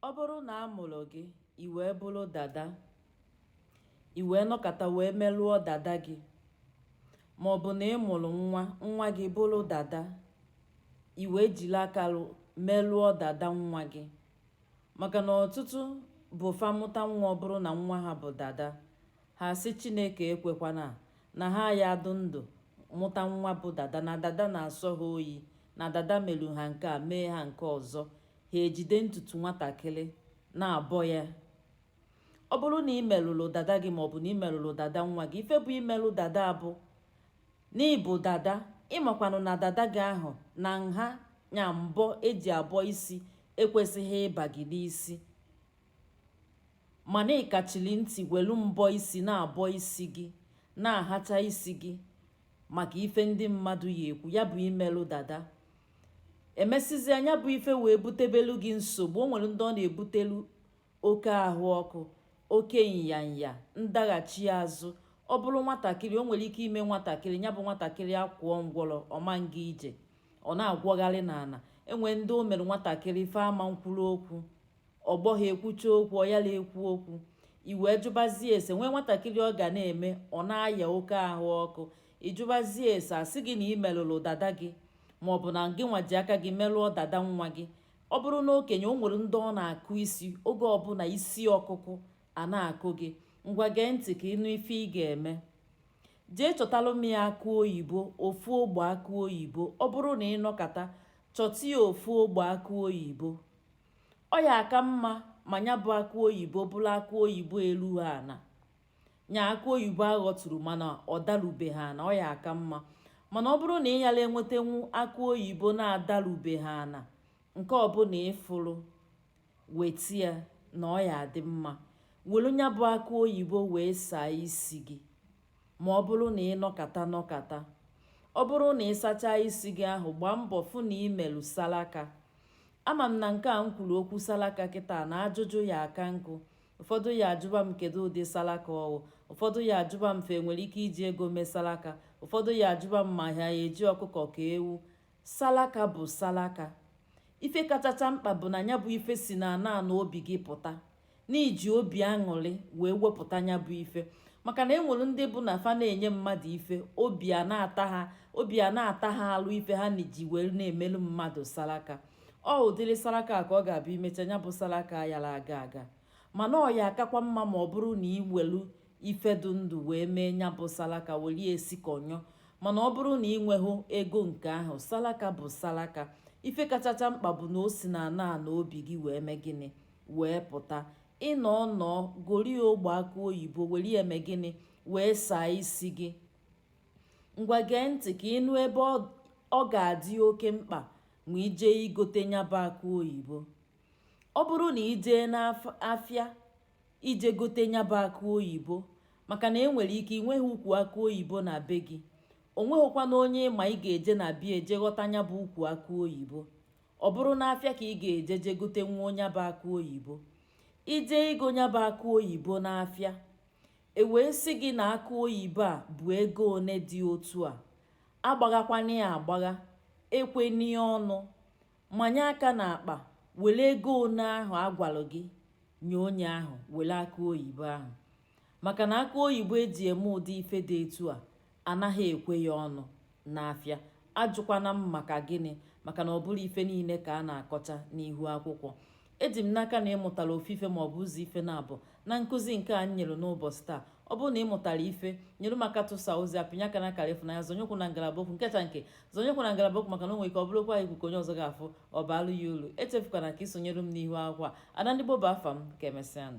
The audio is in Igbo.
Ọ bụrụ na a mụrụ gị i wee bụrụ dada i wee nọkata wee merụọ dada gị ma ọ bụ na ị mụrụ nwa nwa gị bụrụ dada i wee jiri aka merụọ dada nwa gị maka na ọtụtụ bụ fa mụta nwa ọ bụrụ na nwa ha bụ dada ha sị Chineke ekwekwana na ha ya adụ ndụ mụta nwa bụ dada na dada na-asọ ha oyi na dada meru ha nke a mee ha nke ọzọ ha ejide ntutu nwatakịrị na-abọ ya ọ bụrụ na ị merụrụ dada gị maọbụ na ị merụrụ dada nwa gị ife bụ imerụ dada bụ na ị bụ dada ị makwanụ na dada gị ahụ na nha nya mbọ e ji abọ isi ekwesịghị ịba gị n'isi mana ị kachiri ntị welu mbọ isi na-abọ isi gị na-ahacha isi gị maka ife ndị mmadụ ya ekwu ya bụ imelụ dada emesịzia nya bụ ife wee butebelu gị nsogbu o nwere ndị ọ na-ebutelu oke ahụ ọkụ oke nyanya ndaghachi azụ ọ bụrụ nwatakịrị o nwere ike ime nwatakịrị nya bụ nwatakịrị akwụọ ngwọrọ ọ ma nga ije ọ na-agwọgharị n'ana e nwere ndị o mere nwatakịrị fa ama nkwuru okwu ọgbọ ha ekwucha okwu ọ yala ekwu okwu i wee jụbazie ese nwee nwatakịrị ọ ga na-eme ọ na-aya oke ahụ ọkụ ị jụbazie ese a sị gị na ị merụrụ dada gị ma ọ bụ na gị nwa ji aka gị merụọ dada nwa gị ọ bụrụ na okenye o nwere ndị ọ na-akụ isi oge ọbụla isi ọkụkụ a na-akụ gị ngwa gee ntị ka ị nụ ife ị ga-eme jee chọtalụ m ya akụ oyibo ofu ogbe akụ oyibo ọ bụrụ na ị nọkata chọta ya ofu ogbe akụ oyibo ọ ya aka mma ma nya bụ akụ oyibo bụrụ akụ oyibo eluha ana nya akụ oyibo a ghọturu mana ọ darubeghị ana ọ ya aka mma mana ọ bụrụ na ị yala enwetenwu akụ oyibo na-adarubeghị ana nke ọbụla ị fụrụ weta ya na ọ ya adị mma welu nya bụ akụ oyibo wee saa isi gị ma ọ bụrụ na ị nọkata nọkata ọ bụrụ na ị sachaa isi gị ahụ gbaa mbọ fụ na ị melụ salaka ama m na nke a m kwuru okwu salaka kịta na ajụjụ ya aka nkụ ụfọdụ ya ajụba m kedu ụdị salaka ọ wụ ụfọdụ ya ajụba m fa enwere ike iji ego mee salaka ụfọdụ ya ajụba m ma ha ya eji ọkụkọ ka ewu salaka bụ salaka ife kachacha mkpa bụ na nya bụ ife si na ana ana obi gị pụta na i ji obi aṅụrị wee wepụta nya bụ ife maka na e nwere ndị bụ na fa na-enye mmadụ ife obi a na-ata ha alụ ife ha na-eji wee na-emelu mmadụ salaka ọ ụdịrị saraka ka ọ ga-abụ i mecha nya bụ saraka yara aga aga mana ọ ya-akakwa mma ma ọ bụrụ na ị welu ife dị ndụ wee mee nya bụ saraka welie esikọnyọ mana ọ bụrụ na ị nweghị ego nke ahụ saraka bụ saraka ife kachacha mkpa bụ na o si n'ana ana obi gị wee mee gịnị wee pụta ị nọọ nọọ gori ogbe akụ oyibo were eme gịnị wee saa isi gị ngwa gee ntị ka ị nụ ebe ọ ga-adị oke mkpa ma i jee igote nya bụ akụ oyibo ọ bụrụ na i jee n'afịa ije gote nya bụ akụ oyibo maka na e nwere ike ị nweghị ukwu akụ oyibo na be gị o nweghịkwana onye ị ma ị ga-eje na be ya je ghọta nya bụ ukwu akụ oyibo ọ bụrụ n'afịa ka ị ga-eje je gotenwuo nya bụ akụ oyibo i jee igo nya bụ akụ oyibo n'afịa e wee sị gị na akụ oyibo a bụ ego one dị otu a Agbaghakwana ya agbagha, ekwena ya ọnụ, manye aka n'akpa were ego one ahụ a gwara gị nye onye ahụ were akụ oyibo ahụ maka na akụ oyibo e ji eme ụdị ife dị etu a anaghị ekwe ya ọnụ n'afịa ajụkwana m maka gịnị maka na ọ bụrọ ife niile ka a na-akọcha n'ihu akwụkwọ eji m n'aka na ị mụtara ofu ife ma ọ bụ ụzọ ife naabọ na nkụzi nke a m nyere n'ụbọchị taa ọ bụrụ na ị mụtara ife nyere m aka tụsaa ozi a pịnye aka na akara ịfụnanya zọnye ụkwụ na ngalaba okwu nkecha nke zọnye ụkwụ na ngalaba okwu maka na o nwere ike ọ bụrụkwa ikwu ka onye ọzọ ga-afụ ọ baalụ ya uru echefukwana ka ị sonyere m n'ihu akwụkwọ a ada ndị gboo bụ afa m ka emesịanụ